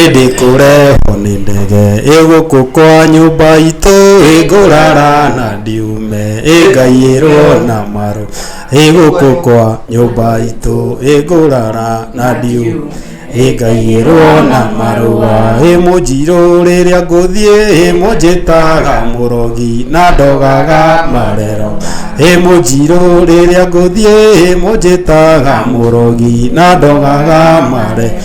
ĩndĩ kũrehwo nĩ ndege ĩgũkũ kwa nyũmba itũ ĩngũrara na ndiume ĩngaiyĩrwo na marũ ĩgũkũ kwa nyũmba itũ ĩngũrara na ndiume ĩngaiyĩrwo na marũa ĩmũnjirũ rĩrĩa ngũthiĩ ĩmũnjĩtaga mũrogi na ndogaga marero ĩmũnjirũ rĩrĩa ngũthiĩ ĩmũnjĩtaga mũrogi na ndogaga marero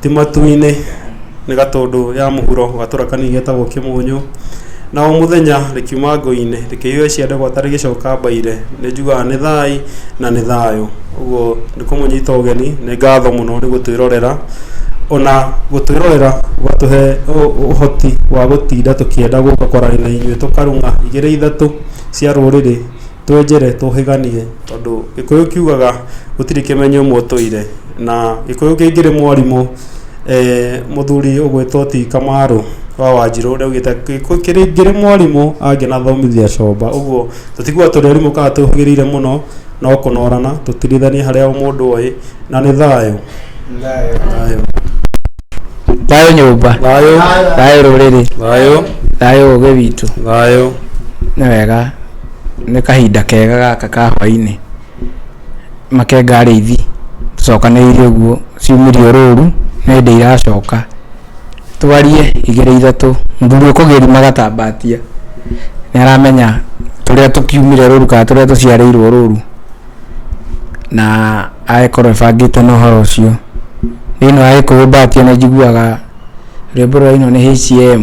Ti matu-inĩ nĩ gatũndũ ya mũhuro gatũra kanini getagwo kĩmũnyũ, na o mũthenya rĩkiuma ngũi-inĩ rĩkĩhiũha cia ndegwata rĩgĩcoka mbaire, nĩ njugaga nĩ thaai na nĩ thayũ. Ũguo nĩ kũmũnyita ũgeni, nĩ ngatho mũno nĩ gũtwĩrorera, ona gũtwĩrorera gũgatũhe ũhoti wa gũtinda tũkĩenda gũka kwaria na inyuĩ tũkarung'a igĩrĩ ithatũ cia rũrĩrĩ. Twenjere tũhĩganie tondũ gĩkũyũ kiugaga gũtirĩ kĩmenyo mwotũire na gĩkũyũ kĩngĩrĩ mwarimũ mũthuri ũgwĩtwo ti kamarũ wa wanjirũ rĩu gĩkũyũ kĩngĩrĩ mwarimũ angĩnathomithia comba ũguo tũtiguaga tũrĩ arimũ kana tũhĩgĩrĩire mũno no kũnorana tũtirithanie harĩa o mũndũ oĩ na nĩ thayũ. Thayũ nyũmba. Thayũ. Thayũ rũrĩrĩ. Thayũ. Thayũ ũgĩ witũ. Thayũ. Nĩ wega. Nĩ kahinda kega gaka ka hwainĩ, makenga arĩithi tũcokanĩrĩire ũguo ciumĩrio rũru nĩ hĩndĩ iracoka, twarie igĩrĩ ithatũ, mũthuri ũkũgĩri magatambatia nĩ aramenya tũrĩa tũkiumire rũru kana tũrĩa tũciarĩirwo rũru na agagĩkorwo ebangĩte na ũhoro ũcio. Thĩinĩ wa gĩkũyũ mbatia nĩ njiguaga rwĩmbo rũrainwo nĩ HCM.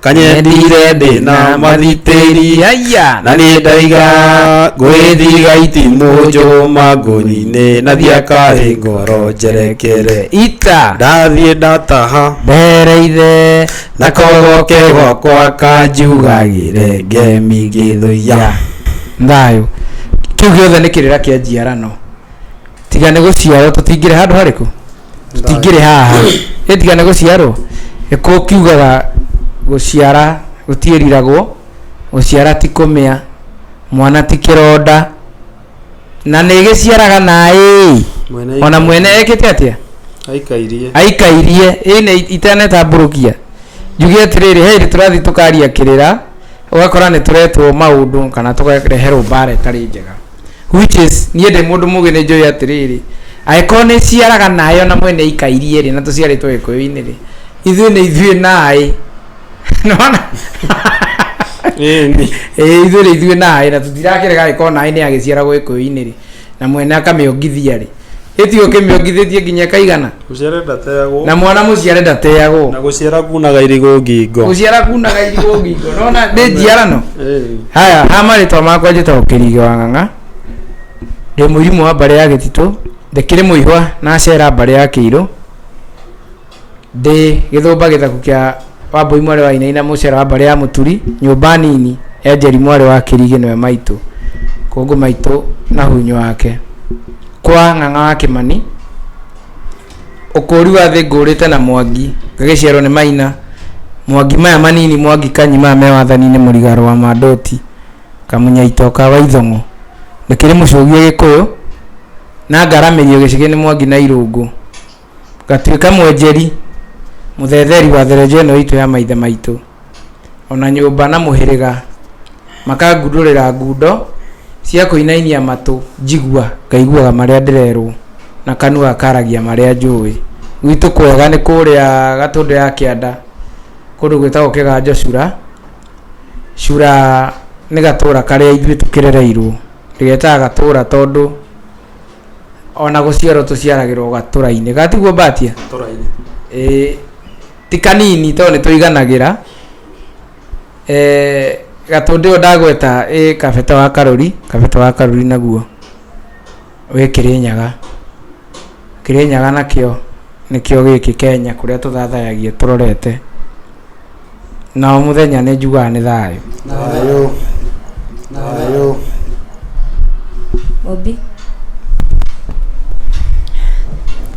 kanyendire ndĩ na mathitĩri yaya na nĩ ndaiga ngwĩthiga itimũ njũma ngũnyinĩ na thiakarĩ ngoro njerekere ita ndathiĩ ndataha ndereire na kogoke gwakwa kanjugagĩre ngemi ngĩthũiya thayũ kĩu gĩothe nĩ kĩrĩra kĩa njiarano tiga nĩ gũciarwo tũtingĩrĩ handũ harĩkũ tũtingĩrĩ haha ĩtiga nĩ gũciarwo gĩkũũ kiugaga gũciara gũtiĩriragwo gũciara ti kũmĩa mwana ti kĩronda na nĩ gĩciaraga naĩ Mwene ona mwene ekĩte atĩa aikairie aikairie ĩne itanetambũrũkia njuge atĩrĩrĩ he hĩndĩ tũrathiĩ tũkaria kĩrĩra ũgakora nĩ tũretwo maũndũ kana tũkareherwo mbara ĩtarĩ njega Which is, niĩ ndĩ mũndũ mũgĩ nĩ njũĩ atĩrĩrĩ, angĩkorwo nĩ ciaraga naĩ ona mwene ikairie rĩ, na tũciarĩtwo gĩkũyũ-inĩ rĩ, ithuĩ nĩ ithuĩ naĩ. Nĩwona? Ĩĩ nĩ. Ĩĩ ithuĩ nĩ ithuĩ naĩ na tũtirakĩrega angĩkorwo naĩ nĩ agĩciaragwo gĩkũyũ-inĩ rĩ, na mwene akamĩongithia rĩ. ĩti ũkĩmĩongithĩtie nginya kaigana Mũciare ndateagwo. na mwana mũciare ndateagwo Na gũciara kunaga irigũ ngingo. gũciara kunaga irigũ ngingo nona ndĩ njiarano Eh. haya ha marĩtwa makwa njĩtagwo kĩriga wa ng'ang'a ndĩ mũirimũ wa mbarĩ ya gĩtitũ ndĩkĩrĩ mũihwa na cera mbarĩ ya kĩirũ ndĩ gĩthũmba gĩthaku kĩa wambũi mwarĩ wa inaina mũcera wa mbarĩ ya mũturi nyũmba nini enjeri mwarĩ wa kĩrigĩ nĩwe maitũ kũngũ maitũ na hunyo wake kwa ng'ang'a wa kĩmani ũkũũri wa thĩ ngũũrĩte na mwangi ngagĩciarwo nĩ maina mwangi maya manini mwangi kanyi maya me wathani-inĩ mũrigaro wa mandoti kamunyaito ka waithong'o ndĩkĩrĩ mũcũgie gĩkũyũ na ngaramĩrio gĩcigĩ nĩ mwangi na irũngũ Ngatuĩka mwenjeri, mũthetheri wa therenjo ĩno itũ ya maithe maitũ, o na nyũmba na mũhĩrĩga, makangundũrĩra ngundo cia kũinainia matũ njigua, ngaiguaga marĩa ndĩrerwo, na kanua gakaragia marĩa njũĩ. Gwitũ kwega nĩ kũrĩa Gatũndũ ya kĩanda, kũndũ gwĩtagwo Kĩganjo Cura, Cura nĩ gatũra karĩa ithuĩ tũkĩrereirwo, ndĩgetaga gatũra tondũ... ona gũciarwo tũciaragĩrwo gatũra-inĩ gatiguo mbatia tũrainĩ Ĩĩ, ti kanini tondũ nĩ tũiganagĩra Ĩĩ, gatũndĩ ũyũ ndagweta ĩ kabete wa karũri kabete wa karũri naguo wĩ kĩrĩnyaga kĩrĩnyaga nakĩo nĩkĩo gĩkĩ kenya kũrĩa tũthathayagia tũrorete na o mũthenya nĩ njugaga nĩ thayũ Thayũ, thayũ. Obi.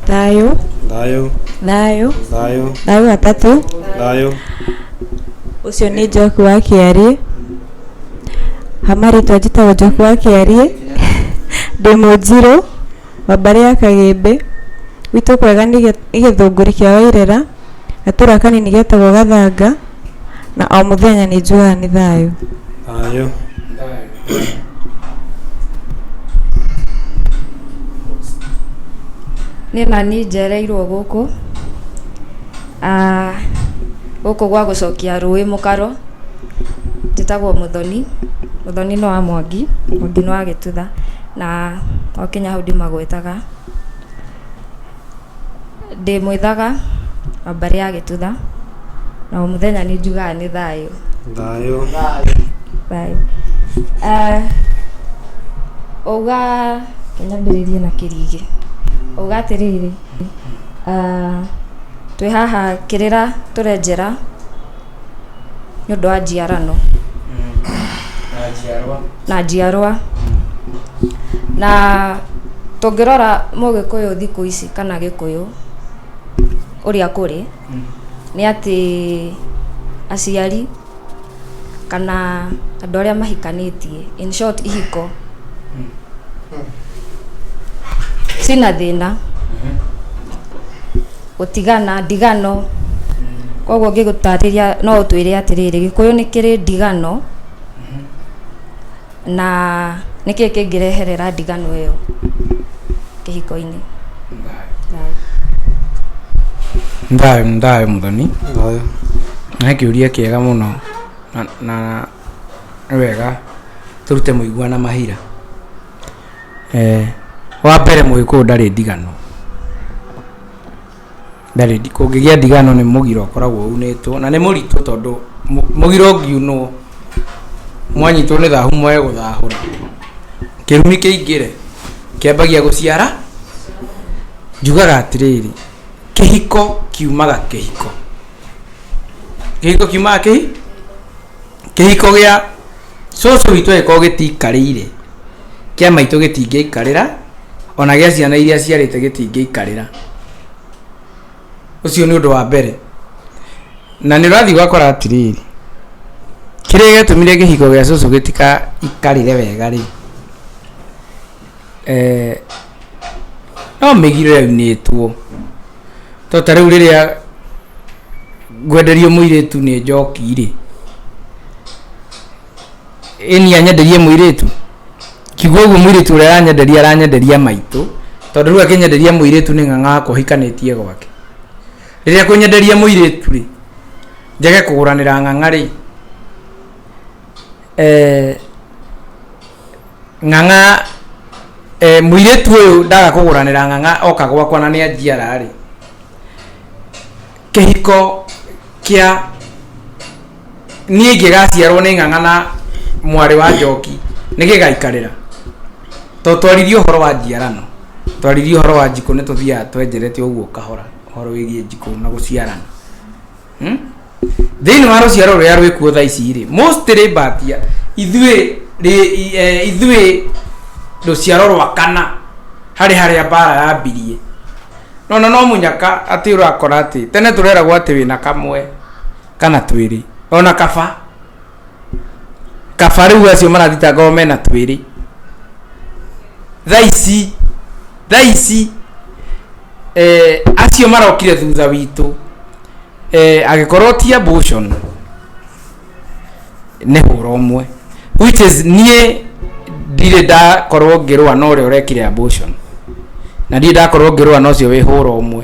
Thayũ. Thayũ. Thayũ. Thayũ. Thayũ atatũ. Thayũ. Ũcio nĩ njoki wa kĩarĩ. Hamarĩtwa njĩtagwo njoki wa kĩarĩ. Ndĩ mũnjirũ. wa mbarĩ ya Kagĩmbĩ, gwitũ kwega nĩ gĩthũngũri kĩa Wairera, gatũra kanini getagwo Gathanga, na o mũthenya nĩ njugaga nĩ thayũ. Thayũ. Nĩ ma niĩ njereirwo gũkũ, ah gũkũ gwa gũcokia rũĩ mũkaro, njĩtagwo Mũthoni, Mũthoni nĩ wa Mwangi, Mwangi nĩ wa Gĩtutha. na twakinya hau ndĩmagwetaga, ndĩmwĩthaga namba ĩrĩa agĩtutha na o mũthenya nĩ njugaga nĩ thayũ thayũ thayũ Eh, uga nyambĩrĩrie na kĩrigĩ uga atĩrĩrĩ ah, twĩ haha kĩrĩra tũrenjera nĩ ũndũ wa njiarano na njiarwa na njiarwa na tũngĩrora mũgĩkũyũ thikũ ici kana gĩkũyũ ũrĩa kũrĩ nĩ atĩ aciari kana andũ arĩa mahikanĩtie in short ihiko cina thĩna Gũtigana, ndigano, koguo ngĩgũtarĩria no ũtwĩre atĩrĩrĩ, gĩkũyũ nĩ kĩrĩ ndigano, na nĩ kĩĩ kĩngĩreherera ndigano ĩyo kĩhiko-inĩ. Thayũ nĩ thayũ mũthoni. Thayũ. Nĩ kĩũria kĩega mũno na nĩ wega tũrute mũigua na mahira. eh, wa mbere mũgĩkũyũ ndarĩ ndigano ndarĩ ndi- kũngĩgĩa ndigano nĩ mũgira ũkoragwo unĩtwo na nĩ mũritũ tondũ mũ- mũgira ũngiunwo mwanyitwo nĩ thahu mwae gũthahũra kĩrumi kĩingĩre kĩambagia gũciara njugaga atĩrĩrĩ kĩhiko kiumaga kĩhiko kĩhiko kiumaga kĩhi kĩhiko gĩa cũcũ witũ agĩkorwo gĩtikarĩire, kĩa maitũ gĩtingĩaikarĩra, ona gĩa ciana iria aciarĩte gĩtingĩaikarĩra. Ũcio nĩ ũndũ wa mbere. Na nĩ ũrathiĩ ũgakora atĩrĩrĩ, kĩrĩa gĩatũmire kĩhiko gĩa cũcũ gĩtikaikarĩre wega rĩ, eh, no mĩgiro yaunĩtwo to ta rĩu rĩrĩa ngwenderio mũirĩtu nĩ njoki rĩ ĩni anyenderie mũirĩtu kigua ũguo mũirĩtu ũrĩa aranyenderia aranyenderia maitũ tondũ rĩu akĩnyenderia mũirĩtu nĩ ng'ang'akwa hikanĩtie gwake rĩrĩa kũnyenderia mũirĩtu rĩ njage kũgũranĩra ng'ang'a rĩ eh, ng'ang'a eh, mũirĩtu ũyũ ndaga kũgũranĩra ng'ang'a oka gwakwa na nĩ anjiara rĩ kĩhiko kĩa niĩ ingĩgaciarwo nĩ ng'ang'a na mwarĩ wa njoki nĩ gĩgaikarĩra to twaririe ũhoro wa njiarano twaririe ũhoro wa njikũ nĩ tũthiaga twenjeretio ũguo kahora ũhoro wĩgiĩ njikũ na gũciarana Hmm? thĩinĩ wa rũciaro rũrĩa rwĩkuo tha ici rĩ mostly mbatia ithuĩ rĩ- i- eh, ithuĩ rũciaro rwa kana harĩ harĩa mbara yambirie nona no mũnyaka atĩ ũrakora atĩ tene tũreragwo atĩ wĩna kamwe kana twĩrĩ ona kaba kaba rĩu acio marathitangawo mena twĩrĩ thaa ici thaa ici eh, acio marokire thutha witũ eh, agĩkorwo ti abortion nĩ hũra ũmwe which is niĩ ndirĩ ndakorwo ngĩrũa na ũrĩa ũrekire abortion na ndirĩ ndakorwo ngĩrũa na ũcio wĩ hũra ũmwe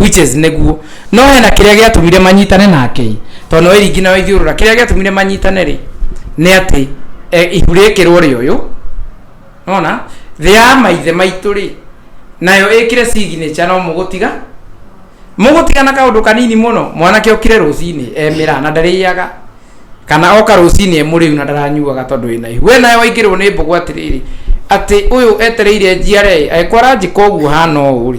which is nĩguo no hena kĩrĩa gĩatũmire manyitane nake tondũ nĩ wairingi na waithiũrũra kĩrĩa gĩatũmire manyitane rĩ nĩ atĩ e, ihu rĩkĩrwo rĩ ũyũ nona thĩ ya maithe maitũ rĩ nayo ĩkĩre signature no mũgũtiga mũgũtiga na kaũndũ kanini mũno mwanake ũkire rũcinĩ emĩra na ndarĩaga kana oka rũcinĩ emũrĩu na ndaranyuaga tondũ wĩna ihu we nayo waingĩrwo nĩ mbũgũ atĩrĩrĩ atĩ ũyũ etereire njiare agĩkora njĩka ũguo hana ũũ rĩ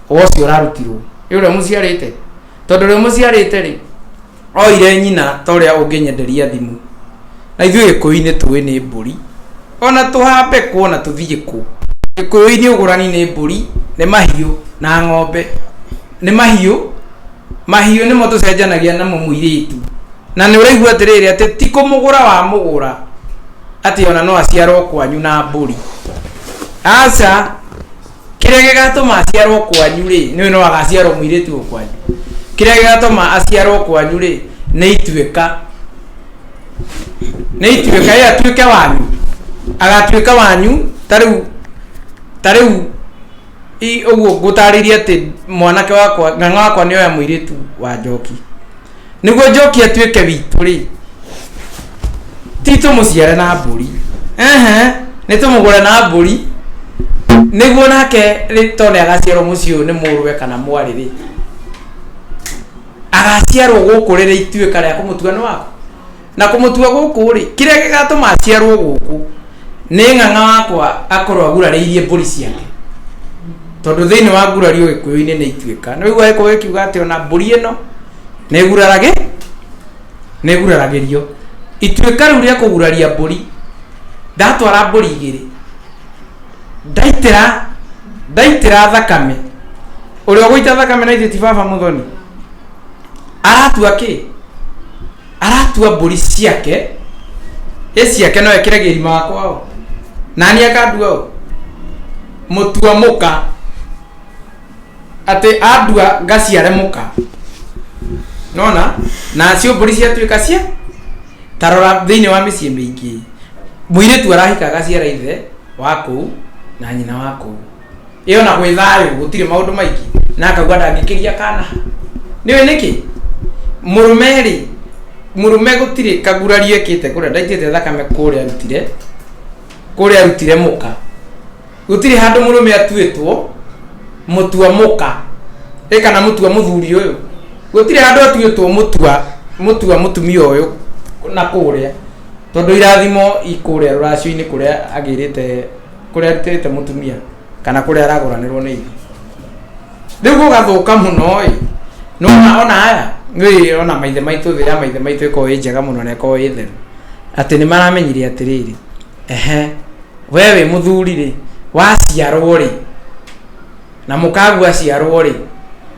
ũcio ũrarutirwo nĩ ũrĩa mũciarĩte tondũ ũrĩa mũciarĩte rĩ oire nyina ta ũrĩa ũngĩnyenderia thimũ na ithuĩ gĩkũyũ-inĩ tũĩ nĩ mbũri ona tũhambe kũ ona tũthiĩ kũ gĩkũyũ-inĩ ũgũrani nĩ mbũri nĩ mahiũ na ng'ombe nĩ mahiũ mahiũ nĩmo tũcenjanagia namo mũirĩtu na nĩ ũraigua atĩrĩrĩ atĩ ti kũmũgũra wa mũgũra atĩ ona no aciarwo kwanyu na mbũri aca kĩrĩa gĩgatũma aciarwo kwanyu rĩ nĩwe no agaciarwo mũirĩtu ũyũ kwanyu kĩrĩa gĩgatũma aciarwo kwanyu rĩ nĩ ituĩka nĩ ituĩka ĩ atuĩke wanyu agatuĩka wanyu ta rĩu ta rĩu i- ũguo ngũtarĩria atĩ mwanake wakwa ng'ang'a wakwa nĩ oya mũirĩtu wa njoki nĩguo njoki atuĩke witũ rĩ ti tũmũciare na mbũri ehe nĩ tũmũgũre na mbũri nĩguo nake rĩ tone agaciarwo mũciĩ ũyũ nĩ mũrũwe kana mwarĩ rĩ agaciarwo gũkũ rĩrĩ ituĩka rĩa kũmũtua nĩ waku na kũmũtua gũkũ-rĩ, kĩrĩa gĩgatũma aciarwo gũkũ nĩ ng'ang'a wakwa akorwo agurarĩirie mbũri ciake tondũ thĩinĩ wa ngurari ũgĩkũyũ-inĩ nĩ ituĩka nĩ ũigua gĩkũyũ gĩkiuga atĩ ona mbũri ĩno nĩ ĩguraragĩ nĩ ĩguraragĩrio ituĩka rĩu rĩa kũguraria mbũri ndatwara mbũri igĩrĩ ndaitĩra ndaitĩra thakame ũrĩa ũgũita thakame na ithuĩ ti baba mũthoni aratua kĩ aratua mbũri ciake ĩ ciake no ekĩre gĩrima wakwa o nani akandua o mũtua mũka atĩ andua ngaciare mũka nona nacio mbũri ciatuĩka cia tarora thĩinĩ wa mĩciĩ mĩingĩ mũirĩtu arahika agaciara ithe wa kũu na nyina wa kũu ĩyo na gwĩ thayũ gũtirĩ maũndũ maingĩ na akauga ndangĩkĩria kana nĩwe nĩkĩ mũrũme rĩ mũrũme gũtirĩ kagurari ekĩte kũrĩa ndaitĩte thakame kũrĩa arutire kũrĩa arutire mũka gũtirĩ handũ mũrũme atuĩtwo mũtua mũka ĩ kana mũtua mũthuri ũyũ gũtirĩ handũ atuĩtwo mũtua mũtua mũtumia ũyũ na kũrĩa tondũ irathimo ikũrĩa rũracio-inĩ kũrĩa agĩrĩte kũrĩa arutĩte mũtumia kana kũrĩa aragũranĩrwo nĩ irio rĩu gũgathũka mũno ĩ nona ona aya nĩ ona maithe maitũ thĩ ya maithe maitũ ĩkorwo ĩ njega mũno na ĩkorwo ĩ theru atĩ nĩ maramenyire atĩrĩrĩ ehe we wĩ mũthuri rĩ waciarwo rĩ na mũkagu aciarwo rĩ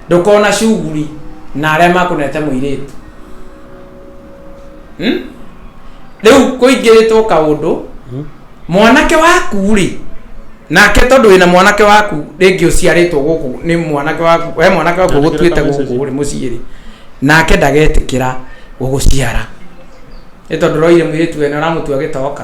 ndũkona cuguri na arĩa makũnete mũirĩtu Hmm? rĩu kũingĩrĩtwo kaũndũ mwanake waku rĩ nake tondũ wĩna mwanake waku rĩngĩ ũciarĩtwo gũkũ nĩ mwanake waku we mwanake waku Ndagĩkĩra ũgũtuĩte kama message. gũkũ rĩ mũciĩ rĩ nake ndagetĩkĩra gũgũciara nĩ tondũ roire mũirĩtu wene ũramũtua gĩtoka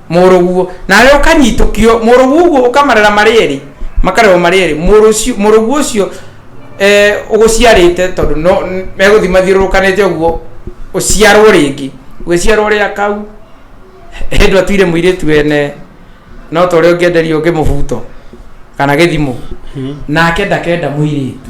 mũrũguo nawe ũkanyitũkio mũrũguo ũguo ũkamarera marĩ erĩ makarerwo marĩ erĩ mũrũ ũcio- mũrũguo ũcio eh, ũgũciarĩte tondũ no n- megũthiĩ mathiũrũrũkanĩte ũguo ũciarwo rĩngĩ ũgĩciarwo rĩa kau hĩndũ atuire mũirĩtu wene no ta ũrĩa ũngĩenderio ũngĩ mũbuto kana gĩthimũ nake ndakenda mũirĩtu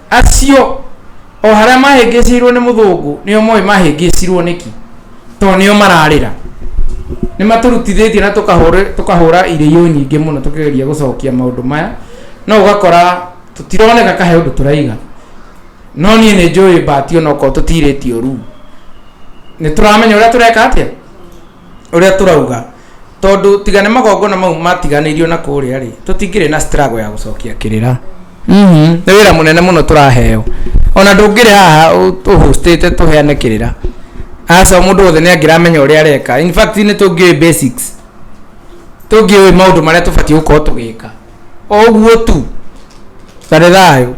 Acio o harĩa mahĩngĩcĩirwo nĩ mũthũngũ nĩo moĩ mahĩngĩcirwo nĩki, to nĩo mararĩra. Nĩ matũrutithĩtie na tũkahũra irĩyo nyingĩ mũno tũkĩgeria gũcokia maũndũ maya, no ũgakora tũtironeka kahe ũndũ tũraiga. No niĩ nĩ njũĩ mbati onokorwo tũtirĩtio rumu, nĩ tũramenya ũrĩa tũreka atĩa? ũrĩa tũrauga tondũ tiga nĩ magongona mau matiganĩirio na kũrĩa rĩ tũtingĩrĩ na struggle ya gũcokia kĩrĩra Mhm. nĩ wĩra mũnene mũno tũraheo ona ndũngĩrĩ haha ũ- ũhũstĩte tũheane kĩrĩra aca mũndũ wothe nĩ angĩramenya ũrĩa areka in fact nĩ tũngĩũĩ basics tũngĩũĩ maũndũ marĩa tũbatiĩ gũkorwo tũgĩka oguo tu tarĩ thayũ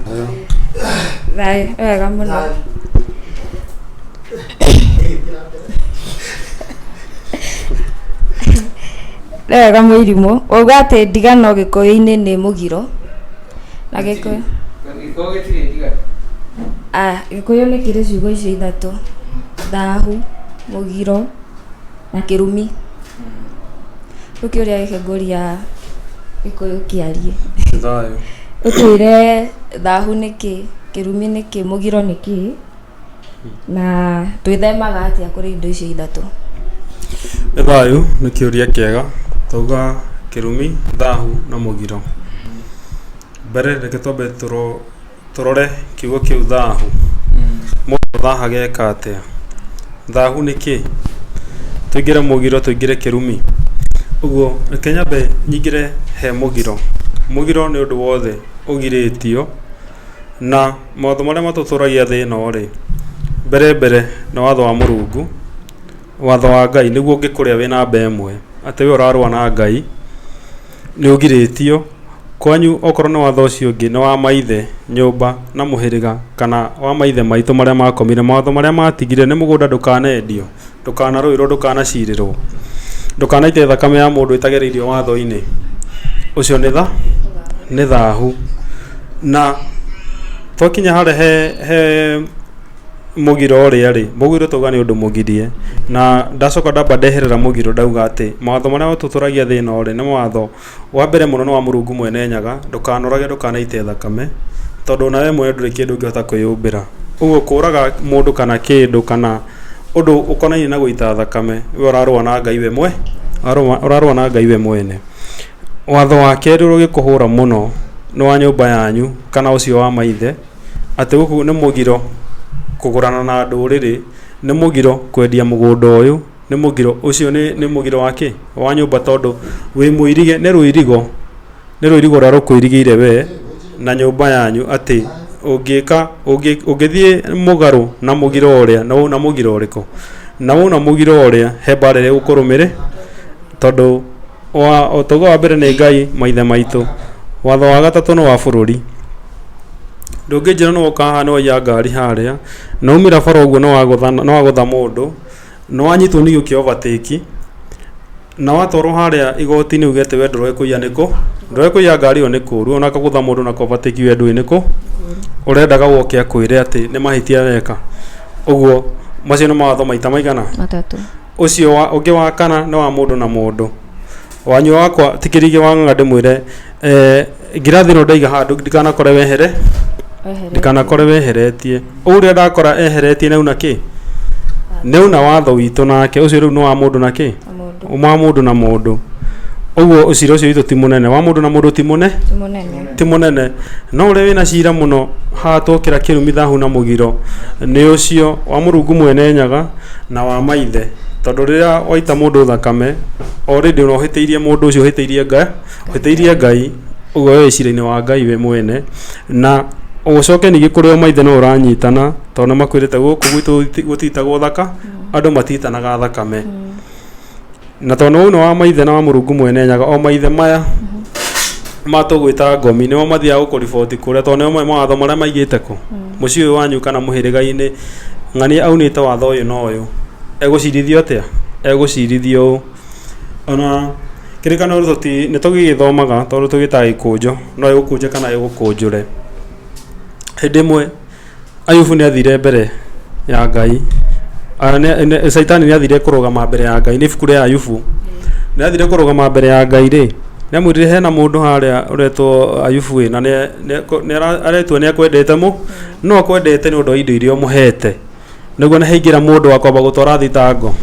thayũ wega mũno nĩ wega mũirimũ uga atĩ ndigano gĩkũyũ-inĩ nĩ mũgiro na gĩkũyũ ah, gĩkũyũ nĩ kĩrĩ ciugo icio ithatũ thahu mũgiro na kĩrumi rĩu kĩũria gĩkĩ ngũria gĩkũyũ kĩarie thayũ ũtwĩre thahu nĩ kĩ kĩrumi nĩ kĩ mũgiro nĩ kĩ na twĩthemaga atĩa kũrĩ indo icio ithatũ nĩ thayũ nĩ kĩũria kĩega twauga kĩrumi thahu na mũgiro mbere reke twambe tũrũ Tũrore kiugo kĩu thahu. Mũndũ ũthahaga eka atĩa? Thahu nĩ kĩĩ? Tũingĩre mũgiro tũingĩre kĩrumi? Ũguo reke nyambe nyingĩre he mũgiro. Mũgiro nĩ ũndũ wothe ũgirĩtio, na mawatho marĩa matũtũragia thĩ ĩno rĩ, mbere mbere nĩ watho wa Mũrungu. watho wa Ngai nĩguo ũngĩkũrĩa wĩ namba ĩmwe atĩ we ũrarũa na Ngai nĩ ũgirĩtio, kwanyu okorwo nĩ watho ũcio ũngĩ nĩ wa maithe, nyũmba na mũhĩrĩga kana wa maithe maitũ marĩa makomire, mawatho marĩa matigire nĩ mũgũnda ndũkanendio, ndũkanarũĩrwo, ndũkanacirĩrwo, ndũkanaite thakame ya mũndũ ĩtagereirio watho-inĩ, ũcio nĩ tha, nĩ thahu. Na twakinya harĩa he, he... mũgiro ũrĩa rĩ, mũgiro twauga nĩ ũndũ mũgirie, na ndacoka ndamba ndeherera mũgiro ndauga atĩ mawatho marĩa ũtũtũragia thĩ ĩno rĩ, nĩ mawatho, wa mbere mũno nĩ wa Mũrungu Mwene Nyaga, ndũkanorage ndũkanaite thakame, tondũ o na we mwene ndũrĩ kĩndũ ũngĩhota kwĩyũmbĩra. Ũguo kũraga mũndũ kana kĩndũ kana ũndũ ũkonainie na gũita thakame, we ũrarũa na Ngai we mwene, ũrarũa na Ngai we mwene. Watho wa kerĩ ũrĩa ũngĩkũhũra mũno nĩ wa nyũmba yanyu kana ũcio wa maithe. atĩ gũkũ nĩ mũgiro kũgũrana na ndũrĩrĩ, nĩ mũgiro kwendia mũgũnda ũyũ, nĩ mũgiro, ũcio nĩ nĩ mũgiro wa kĩ? Wa nyũmba tondũ wĩ mũirige, nĩ rũirigo, nĩ rũirigo rũrĩa rũkũirigĩire we na nyũmba yanyu atĩ ũngĩka, ũngĩ, ũngĩthiĩ mũgarũ na mũgiro ũrĩa nĩ wona mũgiro ũrĩkũ? Na wona mũgiro ũrĩa he mbaara ĩrĩa ĩgũkũrũmĩrĩ, tondũ... Wa, o tauga wa mbere nĩ Ngai maithe maitũ. Watho wa gatatũ nĩ wa bũrũri. Ndũngĩnjĩra nĩ woka haha nĩ waiya ngari harĩa, nĩ waumĩra bara ũguo nĩ wagũtha nĩ wagũtha mũndũ, nĩ wanyitwo nĩ gĩũkia overtake, na watwarwo harĩa igoti-inĩ uge atĩ we ndũroĩ kũiya nĩ kũ, ndũroĩ kũiya ngari ĩyo nĩ kũ. Rĩu ona kũgũtha mũndũ na kũ overtake we ndũĩ nĩ kũ, ũrendaga oke akwĩre atĩ nĩ mahĩtia weka. Ũguo, macio nĩ mawatho maita maigana? Matatũ. Ũcio wa, ũngĩ wa kana nĩ wa mũndũ na mũndũ. Wanyua wakwa ti kĩrĩgĩ wa ng'ang'a ndĩmwĩre, eh, ngirathi ĩno ndaiga handũ ndikanakore wehere, ndikanakore weheretie. Ũyũ rĩrĩa ndakora eheretie nĩ auna kĩ? Nĩ auna watho witũ nake. Ũcio rĩu nĩ wa mũndũ na kĩ? Wa mũndũ na mũndũ. Ũguo ũcira ũcio witũ ti mũnene. Wa mũndũ na mũndũ ti mũne? Ti mũnene, no ũrĩa wĩ na ciira mũno, hagatuokĩra kĩrumi thahu na mũgiro, nĩ ũcio wa Mũrungu Mwene Nyaga na wa maithe, tondũ rĩrĩa waita mũndũ thakame, already ona ũhĩtĩirie mũndũ ũcio ũhĩtĩirie Nga, ũhĩtĩirie Ngai, ũguo we wĩ ciira-inĩ wa Ngai we mwene, na ũgũcoke ningĩ kũrĩ o maithe no ũranyitana, tondũ nĩ makwĩrĩte gũkũ gwitũ gũtiitagwo thaka, andũ matiitanaga thakame. na tondũ ũyũ nĩ wa maithe na wa mũrungu mwene nyaga o maithe maya matũgwĩta ngomi nĩo mathiaga gũkũriboti kũrĩa tondũ nĩo moĩ mawatho marĩa maigĩte kũ mũciĩ ũyũ wanyu kana mũhĩrĩga-inĩ ng'ania aunĩte watho ũyũ na ũyũ egũcirithio atĩa egũcirithio ũũ ona kĩrĩkanĩro tũti nĩ tũgĩgĩthomaga tondũ tũgĩtaga gĩkũnjũ no ĩgũkũnje kana ĩgũkũnjũre hĩndĩ ĩmwe. Ayubu nĩ athire mbere ya Ngai, ah, nĩ- nĩ- Shaitani nĩ athire kũrũgama mbere ya Ngai, nĩ ibuku rĩa Ayubu. Nĩ athire kũrũgama mbere ya Ngai rĩ, nĩ amwĩrire hena mũndũ harĩa ũretwo Ayubu ĩ, na nĩ- nĩ- ko- nĩ ara- aretua nĩ akwendete mũ, no akwendete nĩ ũndũ wa indo iria ũmũhete. Nĩguo nĩ haingĩra mũndũ wa kwamba gũtwara thitango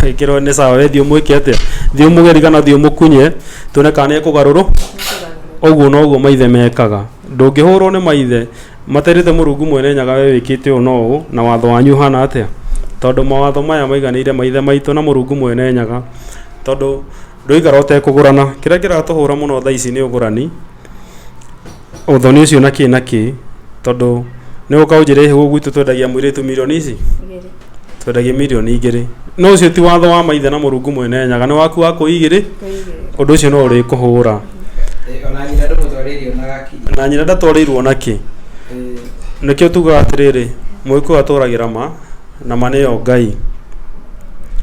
ĩkĩrwo nĩ sawa, we thiĩ ũmwĩke atĩa, thiĩ ũmũgeri kana thiĩ ũmũkunye, tuone kana nĩ ekũgarũrũ ũguo noguo maithe mekaga ndũngĩhũrwo nĩ maithe Materĩte Mũrungu Mwene-Nyaga we wĩkĩte ũũ na ũũ, na watho wanyu ũhana atĩa? Tondũ mawatho maya maiganĩire ma Ithe maitũ na Mũrungu Mwene-Nyaga, tondũ ndũigara ũtekũgũrana. Kĩrĩa kĩratũhũra mũno tha ici nĩ ũgũrani, ũthoni ũcio na kĩĩ na kĩĩ, tondũ nĩ ũgũka ũnjĩre ĩ hĩ gwitũ twendagia mũirĩtu mirioni ici? twendagia mirioni igĩrĩ no ũcio ti watho wa maithe na mũrungu mwene nyaga nĩ waku wa kũigĩrĩ ũndũ ũcio no ũrĩ kũhũra na nyina ndatwarĩirwo na kĩ nĩkĩo tugaga atĩrĩrĩ mũgĩkũyũ atũragĩra ma na ma nĩyo ngai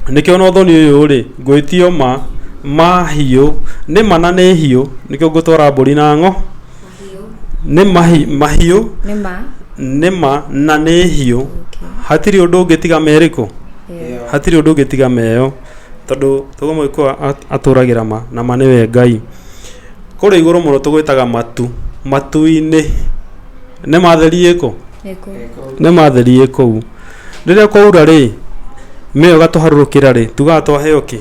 nĩkĩo na ũthoni ũyũ rĩ ngwĩtio ma ma hiũ nĩ ma na nĩ hiũ nĩkĩo ngũtwara mbũri na ng'o mahiũ nĩ ma na nĩ hiũ hatirĩ ũndũ ũngĩ tiga merĩ kũ? hatirĩ ũndũ ũngĩ tiga meyo tondũ tuge mũgĩkũyũ atũragĩra ma na ma nĩwe Ngai. Kũrĩa igũrũ mũno tũgwĩtaga matu, matu-inĩ nĩ ma theri ĩ kũ? nĩ ma theri ĩ kũu. Rĩrĩa kwaura rĩ, mĩyo ĩgatũharũrũkĩra rĩ tugaga twaheo kĩ?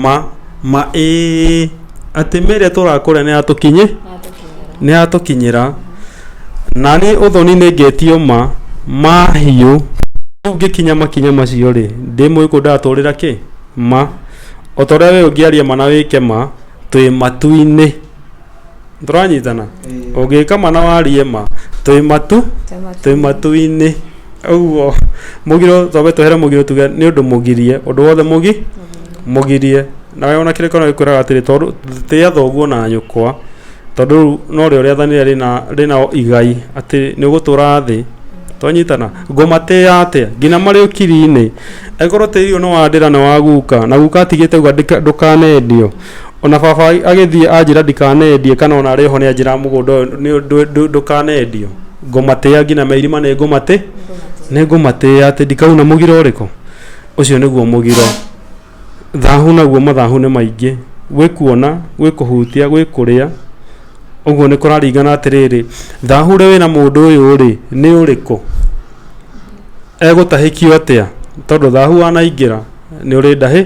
Ma, ma ĩĩ, atĩ mĩĩrĩ ĩrĩa tũrakũrĩa nĩ yatũkinyĩ, nĩ yatũkinyĩra. Na niĩ ũthoni nĩ ngetio ma, mahiũ. Rĩu ngĩkinya makinya macio rĩ, ndĩ mũgĩkũyũ ndatũrĩra kĩ? Ma. O ta ũrĩa we ũngĩaria ma na wĩke ma, twĩ matu-inĩ. tũranyitana Eh. ũngĩkama na warie ma twĩ matu twĩ matu-inĩ ũguo mũgiro twambe twehere mũgiro tuge nĩ ũndũ mũgirie ũndũ wothe mũgi mũgirie na we ona kĩrĩa kĩona gĩkwĩraga atĩrĩ tondũ tĩa thoguo na nyũkwa tondũ rĩu no rĩo rĩathanĩre rĩna rĩna igai atĩ nĩ ũgũtũra thĩ twanyitana ngũmatĩa atĩa nginya marĩ ũkiri-inĩ angĩkorwo tĩri ũyũ nĩ wa ndĩra nĩ wa guka na guka atigĩte ũguo ndĩka- ndũkanendio Ona baba agĩthiĩ anjĩra ndikanendie kana ona arĩ oho nĩ anjĩraga mũgũnda ũyũ ndũkanendio, ngũmatĩa nginya me irima nĩ ngũmatĩ, nĩ ngũmatĩa atĩ ndikauna mũgiro ũrĩkũ. Ũcio nĩguo mũgiro. Thahu naguo mathahu nĩ maingĩ, gwĩ kuona, gwĩ kũhutia, gwĩ kũrĩa, ũguo nĩ kũraringana atĩrĩrĩ, thahu ũrĩa wĩna mũndũ ũyũ rĩ, nĩ ũrĩkũ? Egũtahĩkio atĩa? Tondũ thahu wanaingĩra nĩ ũrĩ ndahĩ...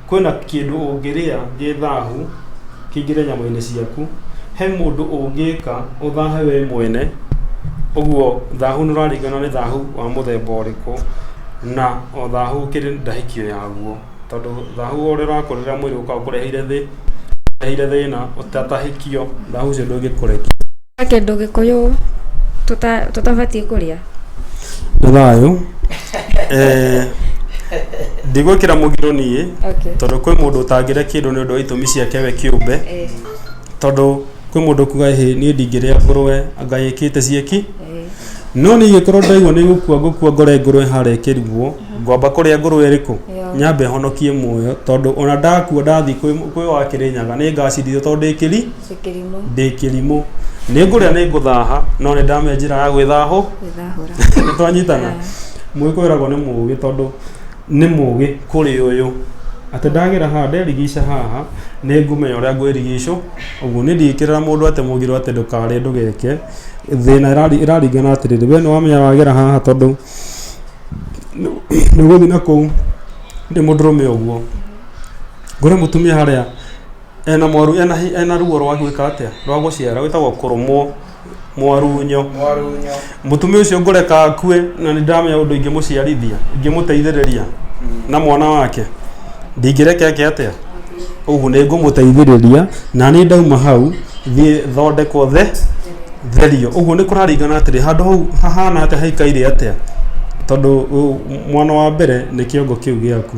Kwĩna kĩndũ ũngĩrĩa gĩ thahu kĩingĩre nyama-inĩ ciaku, he mũndũ ũngĩka ũthahe we mwene, ũguo thahu nĩ ũraringana nĩ thahu wa mũthemba ũrĩkũ, na o thahu ũkĩrĩ na hikio yaguo, tondũ thahu o ũrĩa ũrakũrĩra mwĩrĩ ũkaga ũkũreheire thĩna, ũtahikio thahu ũcio ndũngĩkũrekia. He kĩndũ gĩkũyũ tũta- tũtabatiĩ kũrĩa nĩ thayũ Eh, ndigwĩkĩra mũgiro niĩ Okay. tondũ kwĩ mũndũ ũtangĩrĩa kĩndũ nĩ ũndũ wa itũmi ciake we kĩũmbe Eh, tondũ kwĩ mũndũ kuga hĩ niĩ ndingĩrĩa ngũrũe anga ĩkĩte cieki eh, no niĩ ingĩkorwo ndaigua nĩ gũkua ngũkua ngore ngũrũe harĩa ĩkĩrigwo ngwamba kũrĩa ngũrũe ĩrĩkũ Yeah. nyambe honokie muoyo tondũ ona ndakua ndathiĩ kwĩ kwĩ wa kĩrĩnyaga nĩ ngacirithio tondũ ndĩkĩri Ndĩ kĩrimũ ndĩ kĩrimũ nĩ ngũrĩa nĩ ngũthaha no nĩ ndamenya njĩra ya gwĩthahũ gwĩthahũra. nĩ twanyitana Ah. mũgĩkũyũ eragwo nĩ mũgĩ tondũ nĩ mũgĩ kũrĩ ũyũ atĩ ndagera haha nderigica haha nĩ ngũmenya ũrĩa ngwĩrigicũ ũguo nĩ ndingĩkĩrĩra mũndũ atĩ mũgiro atĩ ndũkarĩe ndũgeke thĩna ĩrari- ĩraringana atĩrĩrĩ we nĩ wamenya wagera haha tondũ nĩ ũgũthiĩ na kũu ndĩ mũndũrũme ũguo ngore mũtumia harĩa Ena mwaru ena, hi- ena ruo rwa gwĩka atĩa rwa gũciara wĩtagwo kũrũmwo mwarunyo mwarunyo mũtumia ũcio ngũreka akue na nĩ ndamenya ũndũ ingĩmũciarithia ingĩmũteithĩrĩria na mwana wake ndingĩreke eke atĩa ũguo nĩ ngũmũteithĩrĩria na nĩ ndauma hau thiĩ thondekwo the therio ũguo nĩ kũraringana atĩrĩ handũ hau hahana atĩa haikaire atĩa tondũ ũ- mwana wa mbere nĩ kĩongo kĩu gĩaku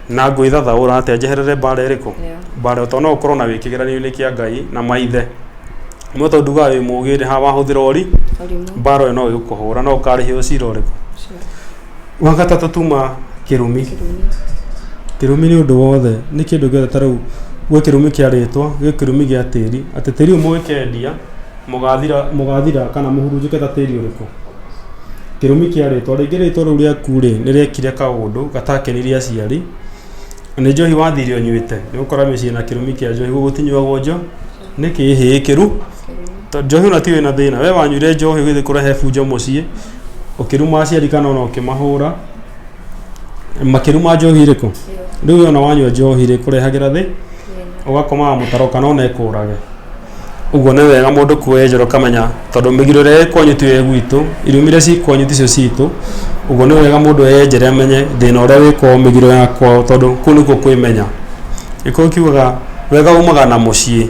Na ngwĩthathaũra atĩa njeherere mbaara ĩrĩkũ? Mbaara to no ũkorwo nayo wĩ kĩgeranio-inĩ kĩa Ngai na maithe. No tondũ ndugaga wĩ mũũgĩ rĩ, haha wahũthĩra ũri, mbaara ĩyo no ĩgũkũhũra. No ũkaarĩhĩrwo cira ũrĩkũ? Wa gatatũ tuma kĩrumi. Kĩrumi nĩ ũndũ wothe, nĩ kĩndũ gĩothe ta rĩu gwĩ kĩrumi kĩa rĩtwa, gwĩ kĩrumi gĩa tĩri, atĩ tĩri ũyũ mũgĩkendia... Mũgaathira, mũgaathira kana mũhurunjũke ta tĩri ũrĩkũ? Kĩrumi kĩa rĩtwa. Rĩngĩ rĩtwa rĩu rĩaku-rĩ, nĩ rĩekire kaũndũ gatakenirie aciari. Na nĩ njohi wathire ũnyuĩte. Nĩ gũkora mĩciĩ na kĩrumi kĩa njohi, gũkũ gũtinyuagwo njo, nĩ kĩhĩĩ kĩru. To- Njohi ona ti wĩna thĩna. We wanyuire njohi ũgĩthiĩ kũrehe bunjo mũciĩ, ũkĩruma aciari kana ona ũkĩmahũra. Makĩruma njohi ĩrĩkũ? Rĩu we ona wanyua njohi-rĩ, ĩkũrehagĩra thĩ, ũgakomaga mũtaro kana ona ĩkũũrage. Ũguo nĩ wega mũndũ kuoya ĩnjoro ũkamenya tondũ mĩgiro ĩrĩa ĩ kwanyu tiyo ĩ gwitũ, irumi iria ci kwanyu ticio citũ. Ũguo nĩ wega mũndũ eyenjere amenye thĩna ũrĩa wĩ kwao, mĩgiro ya kwao tondũ kũu nĩkuo kwĩmenya. Gĩkũyũ kiugaga wega umaga na mũciĩ.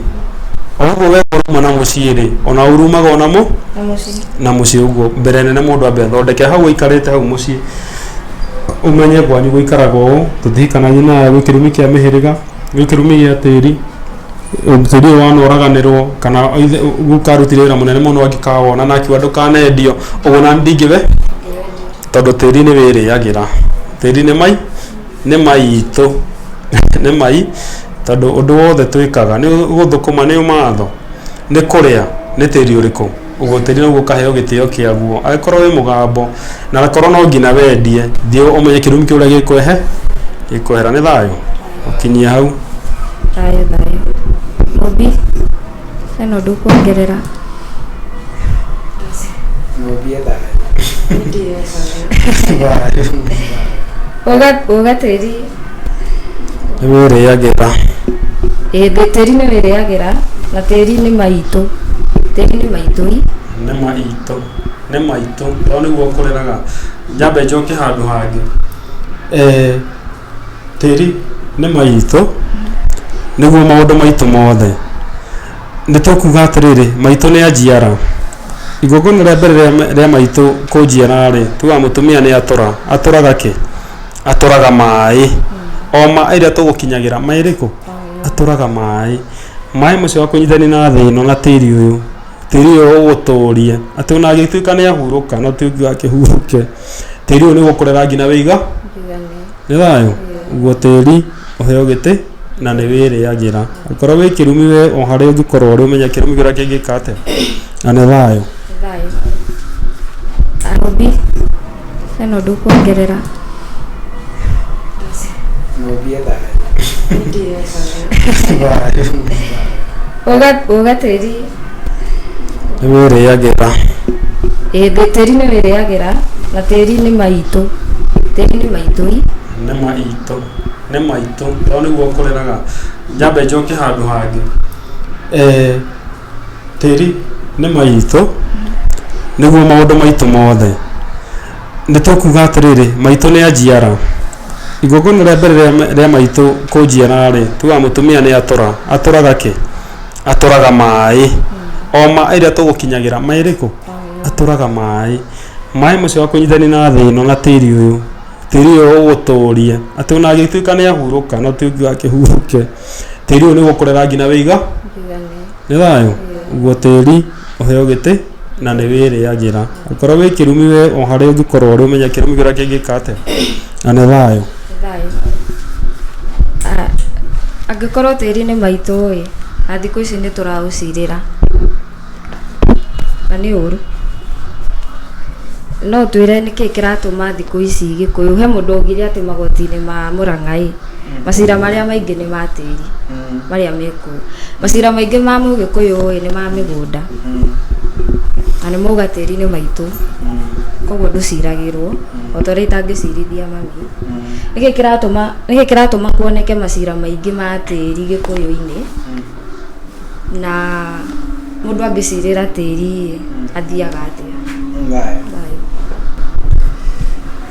O ũguo wega ũrauma na mũciĩ-rĩ, o naguo ũru umaga o na mũciĩ na mũciĩ. Ũguo mbere nene mũndũ ambe athondeke hau aikarĩte hau mũciĩ, ũmenye kwanyu gũikaraga ũũ, tũtihikanagio na aya gwĩ kĩrumi kĩa mĩhĩrĩga, gwĩ kĩrumi gĩa tĩri. mũthuri ũyũ wanoraganĩrwo kana ithe- guka arutire wĩra mũnene mũno angĩkawona na akiuga ndũkanendio ũguo na ndingĩwe tondũ tĩri nĩ wĩrĩagĩra tĩri nĩ mai nĩ maitũ nĩ mai tondũ ũndũ wothe twĩkaga nĩ gũthũkũma nĩ matho nĩ kũrĩa nĩ tĩri ũrĩkũ ũgũtĩrĩra ũguo ũkaheo gĩtĩo kĩaguo agĩkorwo wĩ mũgambo na agakorwo no nginya wendie thiĩ ũmenye kĩrumi kĩu ũrĩa gĩkwehe gĩkwehera nĩ thayũ ũkinyie hau thayũ thayũ obi hena ũndũ kuongerera ũgatĩri nĩ wĩrĩagĩra Ĩĩ, thĩ- tĩri nĩ wĩrĩagĩra na tĩri nĩ maitũ tĩri nĩ maitũi nĩ maitũ nĩ maitũ tondũ nĩguo ũkũrĩraga njambe njoke handũ hangĩ Eh, tĩri nĩ maitũ nĩguo maũndũ maitũ mothe nĩ tũkuga atĩrĩrĩ maitũ nĩ anjiara igongona rĩa mbere rĩa ma- rĩa maitũ kũnjiara rĩ tuga mũtumia nĩ atũra atũraga kĩ atũraga maĩ o maĩ rĩrĩa tũgũkinyagĩra maĩ rĩkũ atũraga maĩ maĩ macio akũnyitani na thĩ ĩno na tĩri ũyũ tĩri ũyũ ũgũtũrie atĩ ona agĩtuĩka nĩ ahurũka no ti ũngiuga akĩhurũke tĩri ũyũ nĩ ũgũkũrera nginya wĩiga nĩ thayũ guo tĩri ũheo gĩtĩ na nĩ wĩrĩagĩra okorwo wĩ kĩrumi we o harĩa ũngĩkorwo ũrĩ ũmenye kĩrumi kĩrĩa kĩngĩka atĩa na nĩ thayũ. ĩno ndũkuongerera Mwambie thayũ. Ndiyo thayũ. Ũga- ũga tĩri nĩ wĩrĩagĩra ĩĩ, thĩ- tĩri nĩ wĩrĩagĩra na tĩri nĩ maitũ tĩri nĩ maitũi nĩ maitũ nĩ maitũ tondũ nĩguo kũreraga njambe njoke handũ hangĩ Eh, Tĩri nĩ maitũ, nĩguo maũndũ maitũ mothe. Nĩ tũkuuga atĩrĩrĩ, maitũ nĩ a njiara. Igongona rĩa mbere rĩa maitũ kũnjiara rĩ, tuugaga mũtumia nĩ atũra. Atũraga kĩ? Atũraga maaĩ. O maaĩ rĩrĩa tũgũkinyagĩra, maaĩ marĩkũ? Atũraga maaĩ. Maaĩ macio wa kũnyitithania na thĩ ĩno na tĩri ũyũ, tĩri ũyũ ũgũtũria atĩ o na angĩtuĩka nĩ ahurũka no ti ũngĩũka akĩhurũke. tĩri ũyũ nĩ gũkũre rangi na wĩiga nĩ thayũ guo tĩri ũheo gĩtĩ na nĩ wĩrĩagĩra ũkorwo wĩ kĩrumi we o harĩa ũngĩkorwo ũrĩ ũmenye kĩrumi kĩrĩa kĩngĩka atĩa na nĩ thayũ Ah, angĩkorwo tĩri nĩ maitũ ĩ na thikũ ici nĩ tũraũcirĩra Na nĩ ũru. No ũtwĩre nĩkĩ kĩratũma thikũ ici Gĩkũyũ, he mũndũ augire atĩ magoti-inĩ ma Mũrang'a-ĩ, macira marĩa maingĩ nĩ ma tĩri, marĩa me kuo. Macira maingĩ ma Mũgĩkũyũ-ĩ nĩ ma mĩgũnda, na nĩ mauga tĩri nĩ maitũ, koguo ndũciragĩrwo, o ta ũrĩa itangĩcirithia mami. Nĩkĩ kĩratũma, nĩkĩ kĩratũma kuoneke macira maingĩ ma tĩri Gĩkũyũ-inĩ? Na mũndũ angĩcirĩra tĩri athiaga atĩa? Thayũ. Thayũ.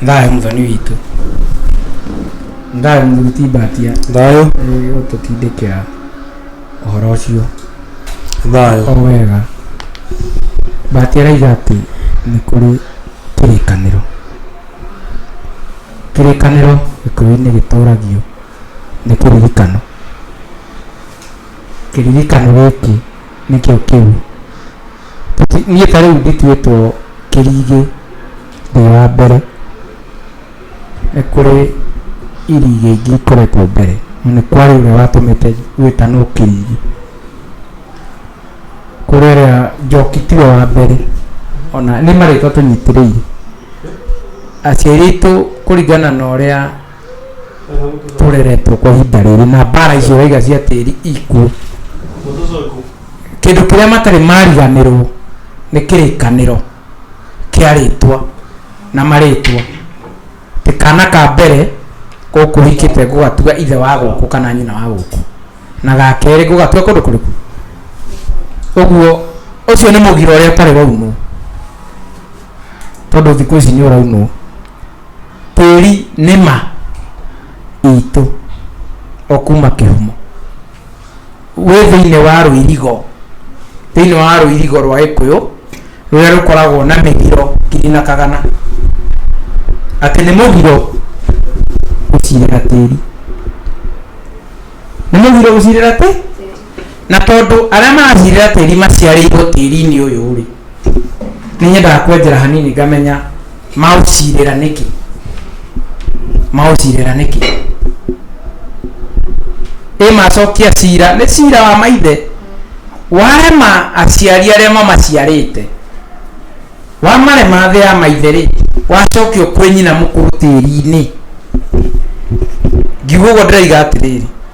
Thayũ mũthoni witũ. Thayũ mũthuri timbatia. Thayũ. Ũtũtindĩkĩra ũhoro ũcio. Thayũ. O wega. Mbatia araiga atĩ nĩ kũrĩ kĩrĩkanĩro. Kĩrĩkanĩro gĩkũyũ-inĩ gĩtũragio. nĩ kĩririkano kĩririkano gĩkĩ nĩkĩo kĩu niĩ ta rĩu ndituĩtwo kĩrigĩ ndĩ wa mbere nĩ kũrĩ irigĩ ingĩ ikoretwo mbere na nĩ kwarĩ ũrĩa watũmĩte gwĩtanwo kĩrigĩ kũrĩ ũrĩa njoki tiwe wa mbere ona nĩ marĩtwa tũnyitĩrĩire aciari aitũ kũringana na ũrĩa tũreretwo kwa ihinda rĩrĩ na mbara icio waiga cia tĩri ikuo kĩndũ kĩrĩa matarĩ mariganĩrwo nĩ kĩrĩkanĩro kĩa rĩtwa na marĩtwa tĩ kana ka mbere gũkũ hikĩte ngũgatua ithe wa gũkũ kana nyina wa gũkũ na ga kerĩ ngũgatua kũndũ kũrĩkũ ũguo ũcio nĩ mũgira ũrĩa ũtarĩ waunwo tondũ thikũ ici nĩ ũraunwo Tĩri nĩ ma itũ o kuma kĩhumo. Wĩ thĩinĩ wa rũirigo, thĩinĩ wa rũirigo rwa gĩkũyũ rũrĩa rũkoragwo na mĩgiro ngiri na kagana. Atĩ nĩ mũgiro gũcirĩra tĩri. Nĩ mũgiro gũcirĩra kĩ? Na tondũ arĩa maracirĩra tĩri maciarĩirwo tĩri-inĩ ũyũ-rĩ, nĩ nyendaga kwenjera hanini ngamenya maũcirĩra nĩkĩ? Maũcirĩra nĩkĩ? Ĩ macokia cira, nĩ cira wa maithe warema aciari arĩa mamaciarĩte, wamarema thĩ ya maithe-rĩ, wacokio kwĩ nyina mũkũrũ tĩri-inĩ. Ngiuga ũguo ndĩroiga atĩrĩrĩ.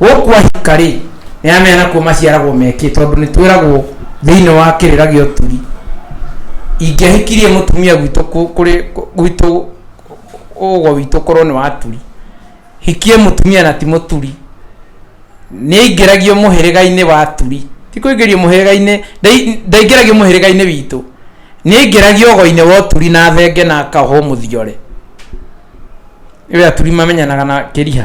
gũkwa hika rĩ nĩ amenya nakuo maciaragwo mekĩ tondũ nĩ twĩragwo thĩinĩ wa kĩrĩra gĩa ũturi ingĩahikirie mũtumia gwitũ kũ- kũrĩ kũ- gwitũ ũgo witũ korwo nĩ waturi hikie mũtumia na ti mũturi nĩ aingĩragio mũhĩrĩga-inĩ wa aturi ti kũingĩrio mũhĩrĩga-inĩ ndai- ndaingĩragio mũhĩrĩga-inĩ witũ nĩ aingĩragio ũgo-inĩ wa ũturi na thenge na akahwo mũthiore ĩwe aturi mamenyanaga na kĩriha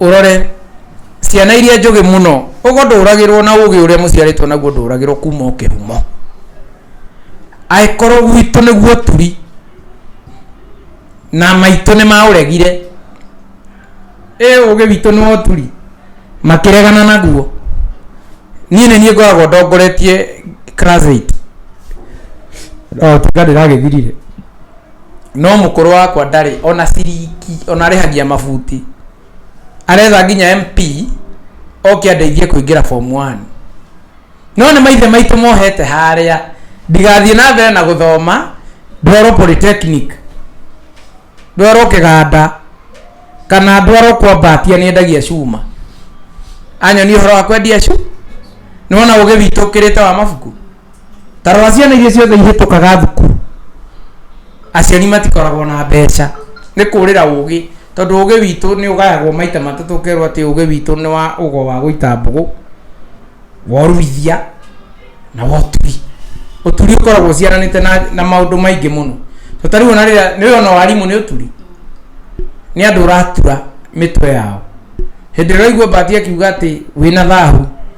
Ũrore, ciana iria njũgĩ mũno, ũgo ndũũragĩrwo na ũũgĩ ũrĩa mũciarĩtwo naguo ndũũragĩrwo kuuma o kĩhumo. Angĩkorwo gwitũ nĩguo ũturi, na maitũ nĩ maũregire, ĩ ũũgĩ witũ nĩ wa ũturi? Makĩregana naguo. Niĩ nĩ niĩ ngoragwo ndongoretie class eight. O tiga ndĩragĩthirire. no mũkũrũ wakwa ndarĩ ona ciringi ona arĩhagia mabuti aretha nginya MP oke andeithie kũingĩra form 1 no nĩ maithe maitũ mohete harĩa ndigathiĩ na mbere na gũthoma ndwarwo polytechnic ndwarwo kĩganda kana ndwarwo kwambatia nĩ endagia cuma anyonia ũhoro wa kwendia cuma nĩwona ũgĩ witũ ũkĩrĩte wa mabuku tarora ciana iria ciothe ihĩtũkaga thukuru aciari matikoragwo na mbeca nĩ kũrĩra ũgĩ tondũ ũgĩ witũ nĩ ũgayagwo maita matatũ ũkerwo atĩ ũgĩ witũ nĩ wa ũgo wa gũita mbũgũ worumithia na woturi ũturi ũkoragwo ũciaranĩte na, na maũndũ maingĩ mũno to tarĩu ona rĩrĩa nĩ wĩona warimũ nĩ ũturi nĩ andũ ũratura mĩtwe yao hĩndĩ ĩrĩa ũraigua mbati akiuga atĩ wĩna thahu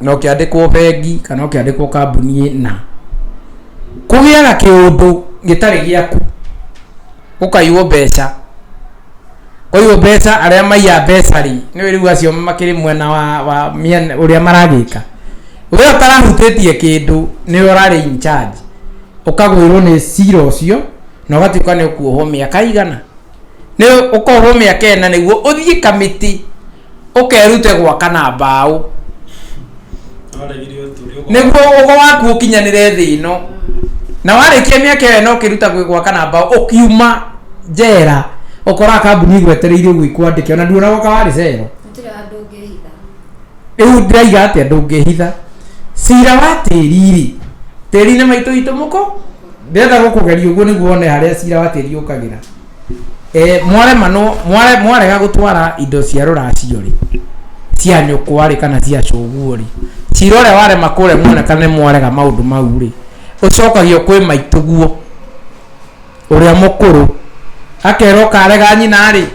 na ũkĩandĩkwo bengi kana ũkĩandĩkwo kambuni na kũgĩaga kĩũndũ gĩtarĩ gĩaku ũkaiywo mbeca ũyũ mbeca arĩa maiya mbeca rĩ nĩ wĩ rĩu acio makĩrĩ mwena wa, wa mĩena ũrĩa maragĩka we ũtarahutĩtie kĩndũ nĩwe ũrarĩ in charge ũkagwĩrwo nĩ cira ũcio na ũgatuĩka nĩ ũkuohwo mĩaka igana nĩ ũkohwo mĩaka ĩna nĩguo ũthiĩ kamĩtĩ ũkerute gwaka na mbaũ nĩguo ũgo waku ũkinyanĩre thĩ ĩno na warĩkia mĩaka ĩyo ĩna ũkĩruta gwĩ gwaka na mbaũ ũkiuma njera ũkoraga kambuni igwetereire ũguo ikwandĩke ona nduona gwaka warĩ cero gũtirĩ handũ ũngĩhitha rĩu ndĩraiga atĩa ndũngĩhitha cira wa tĩri-rĩ tĩri-inĩ maitũ itũ mũko ndĩrenda gũkũgeria ũguo nĩguo one harĩa cira wa tĩri ũkagĩra Eh, mwarema no mware mwarega gutwara indo cia ruracio ri cia nyukwa ri kana cia cuguo ri cira uria warema kure mwena kana mwarega maundu mau ri ucokagio kwi maituguo uria mukuru akerwo karega nyina ri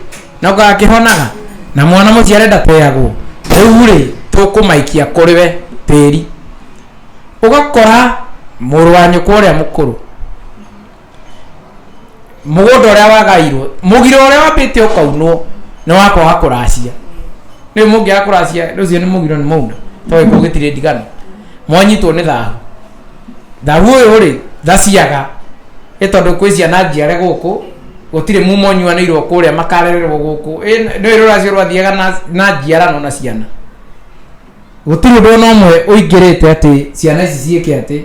no gakihonaga na mwana mucio arenda tweyagwo riu ri tukumaikia kuri we tiri ugakora mũrũ wa nyũkwa ũrĩa mũkũrũ mũgũnda ũrĩa wagairwo mũgiro ũrĩa wambĩte ũkaunwo nĩ wakoha kũracia rĩu mũngĩaga kũracia rũciũ nĩ mũgiro nĩ mauna tondũ gĩkuũ gĩtirĩ ndigano mwanyitwo nĩ thahu thahu ũyũ rĩ thaciaga ĩ tondũ kwĩ ciana njiare gũkũ gũtirĩ muma ũnyuanĩirwo kũrĩa makarererwo gũkũ Ĩ- nĩ rũracio rwathiaga na- na njiarano na ciana gũtirĩ ũndũ ona ũmwe ũingĩrĩte atĩ ciana ici ciĩke atĩ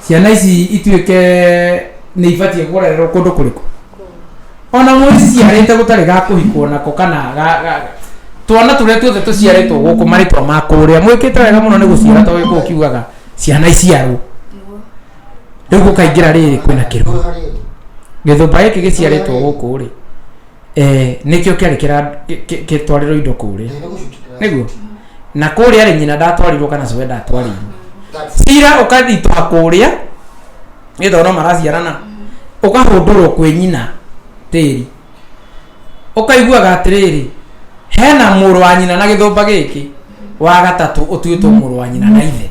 ciana ici ituĩke nĩ ibatiĩ kũrererwo kũndũ kũrĩkũ ona mũici ciarĩte gũtarĩ ga kũhikwo nako kana ga- ga- twana tũrĩa tuothe tũciarĩtwo gũkũ marĩtwa ma kũrĩa mwĩkĩte wega mũno nĩ gũciara to gĩkũ ũkiugaga ciana iciarwo rĩu gũkaingĩra rĩrĩ kwĩna kĩrũa gĩthũmba gĩkĩ gĩciarĩtwo gũkũ rĩ eh nikio kiari kira kitwariro indo kuri Nĩ gũcukĩra. niguo na kuria ri nyina ndatwarirwo kana cwe ndatwarirwo That's- cira ukathitũha kuria nĩ thono maraciarana ukahundurwo kwĩ nyina tĩri ukaiguaga atĩrĩrĩ hena mũrũ wa nyina na gĩthũmba gĩkĩ wa gatatũ ũtuĩtwo mũrũ wa nyina na ithe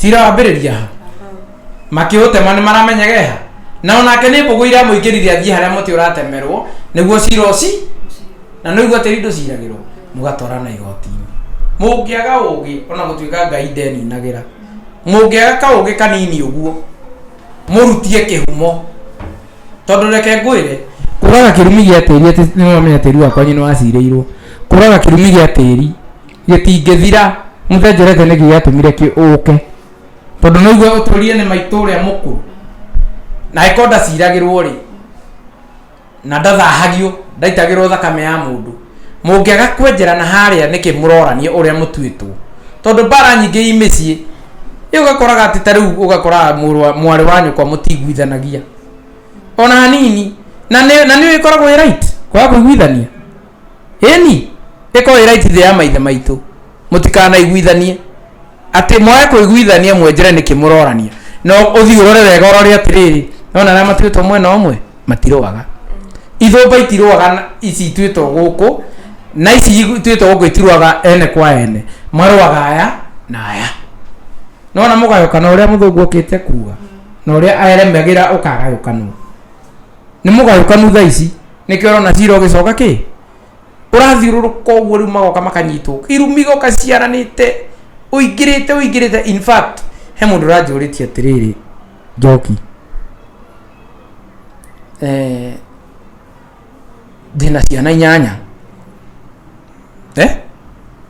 cirambĩrĩria ha makĩũtema nĩ maramenyege ha na onake nĩ mbũgũ iramũingĩrire athiĩ harĩa mũtĩ ũratemerwo nĩguo cira ũci na noigua tĩri ndũciragĩrwo mũgatwarana igotinĩ mũngĩaga ũgĩ ona gũtuĩka ngai ndeninagĩra mũngĩaga kaũgĩ kanini ũguo mũrutie kĩhumo tondũ reke ngwĩre kũraga kĩrumi gĩa tĩri atĩ nĩwamenya tĩri wakwa nyinĩ wacirĩirwo kũraga kĩrumi gĩa tĩri gĩtingĩthira mũthenjerete nĩkĩ gĩatũmire kĩ ũke tondũ no igwe ũtũrie nĩ maitũ ũrĩa mũkũ na ĩko ndaciragĩrwo rĩ na ndathahagio ndaitagĩrwo thakame ya mũndũ mũngĩaga kwenjera na harĩa nĩkĩ mũrorania ũrĩa mũtuĩtwo tondũ mbara nyingĩ i mĩciĩ rĩu ũgakoraga atĩ ta rĩu ũgakoraga mũrũ wa- mwarĩ wa nyũkwa mũtiguithanagia ona hanini na nĩ na nĩ ĩkoragwo ĩ right kwaga kũiguithania Ĩni, ĩkorwo ĩ right thĩ ya maithe maitũ. Mũtikanaiguithanie. Atĩ mwage kũiguithania mwenjere nĩkĩ mũrorania. No ũthiĩ ũrore wega ũrore atĩrĩrĩ, nona arĩa matuĩtwo mwena ũmwe, matirũaga. Ithũmba itirũaga na ici ituĩtwo gũkũ, na ici ituĩtwo gũkũ itirũaga ene kwa ene. Marũaga aya na aya. Nona mũgayũkano ũrĩa mũthũngũ okĩte kuga, na ũrĩa aremagĩra ũkagayũkanwo. nä må gayåkanu tha ici nä kä orona cira å gä coka kä ũrathiũrũrũka ũguo rĩu magoka makanyitwo irumi goka ciaranĩte ũingĩrĩte ũingĩrĩte in fact he mũndũ ũranjũrĩtie atĩrĩrĩ njoki eh, ndĩna ciana inyanya eh?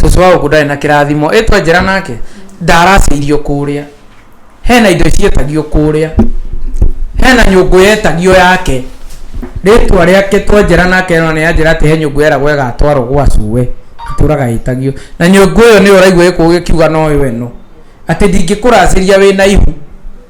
cũcũ wa gũkũ ndarĩ na kĩrathimo ĩ twenjera nake ndaracĩirio kũrĩa hena indo cietagio kũrĩa hena nyũngũ yetagio yake rĩtwa rĩake twenjera nake no nĩ anjĩra atĩ he nyũngũ yeragwo ĩgatwarwo gwa cuwe itũraga ĩtagio na nyũngũ ĩyo nĩyo ũraigua gĩkũũ gĩkiuga no yo ĩno atĩ ndingĩkũracĩria wĩna ihu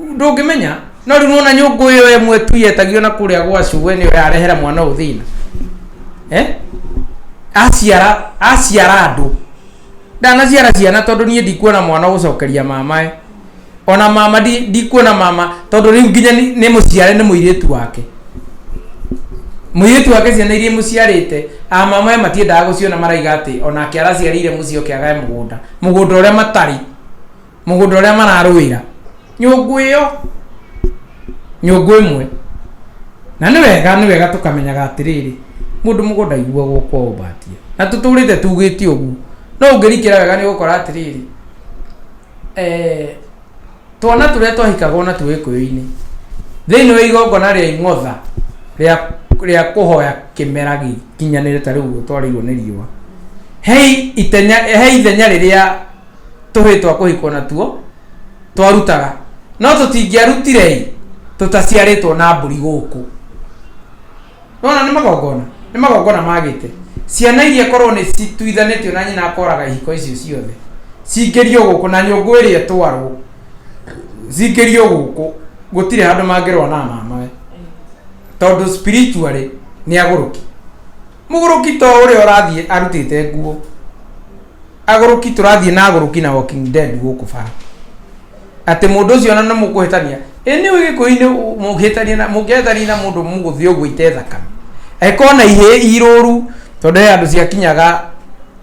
ndũngĩmenya no rĩu nona nyũngũ ĩyo ĩmwe tu yetagio na kũrĩa gwa cũwe nĩyo yarehera mwana ũyũ thĩna eh? aciara aciara andũ ndanaciara ciana tondũ niĩ ndikuona mwana ũgũcokeria mamae ona mama ndi- ndikuona mama tondũ rĩu nginya nĩ nĩ mũciare nĩ mũirĩtu wake mũirĩtu wake ciana iria mũciarĩte a mamae matiendaga gũciona maraiga atĩ onake araciarĩire mũciĩ ũkĩagae mũgũnda mũgũnda ũrĩa matarĩ mũgũnda ũrĩa mararũĩra nyũngũ ĩyo nyũngũ ĩmwe na nĩ wega nĩ wega tũkamenyaga atĩrĩrĩ mũndũ mũgũnda aiguagwo kwa ũmbatia na tũtũrĩte tugĩte ũguo no ũngĩrikĩra wega nĩ ũgũkora atĩrĩrĩ eh, twana tũrĩa twahikaga ona twĩ gĩkũyũ-inĩ thĩinĩ wa igongona rĩa ing'otha rĩa rĩa kũhoya kĩmera gĩkinyanĩre ta rĩu ũguo twarĩirwo nĩ riũa he itenya he ithenya rĩrĩa tũhĩĩ twa kũhikwo natuo twarutaga, no tũtingĩarutire-ĩ, tũtaciarĩtwo na mbũri gũkũ. Nĩwona nĩ magongona? Nĩ magongona ma gĩte. Ciana iria korwo nĩ cituithanĩtio na nyina akoraga ihiko icio ciothe, cingĩrio gũkũ na nyũngũ ĩrĩa ĩtwarwo, cingĩrio gũkũ, gũtirĩ handũ mangĩrũa na mamawe, tondũ spiritually nĩ agũrũki. Mũgũrũki to ũrĩa ũrathiĩ arutĩte nguo. agũrũki tũrathiĩ na agũrũki na walking dead gũkũ bara atĩ mũndũ ũcio ona nĩ mũkũhĩtania ĩ nĩ ũĩ gĩkũyũ-inĩ mũngĩhĩtania na mũngĩhĩtania na mũndũ mũgũthiĩ ũguo ite thakame angĩkorwo na ihĩ irũru tondũ he andũ ciakinyaga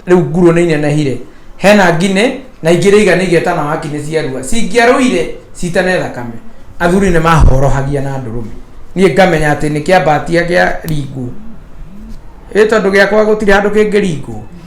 rĩu ngurũ nĩ inenehire hena nginĩ na ingĩ rĩiga nĩ igeta na waki nĩ ciarua cingĩarũire citane thakame athuri nĩ mahorohagia na ndũrũme niĩ ngamenya atĩ nĩ kĩambatia gĩa ringwo ĩ tondũ gĩakwa gũtirĩ handũ kĩngĩringwo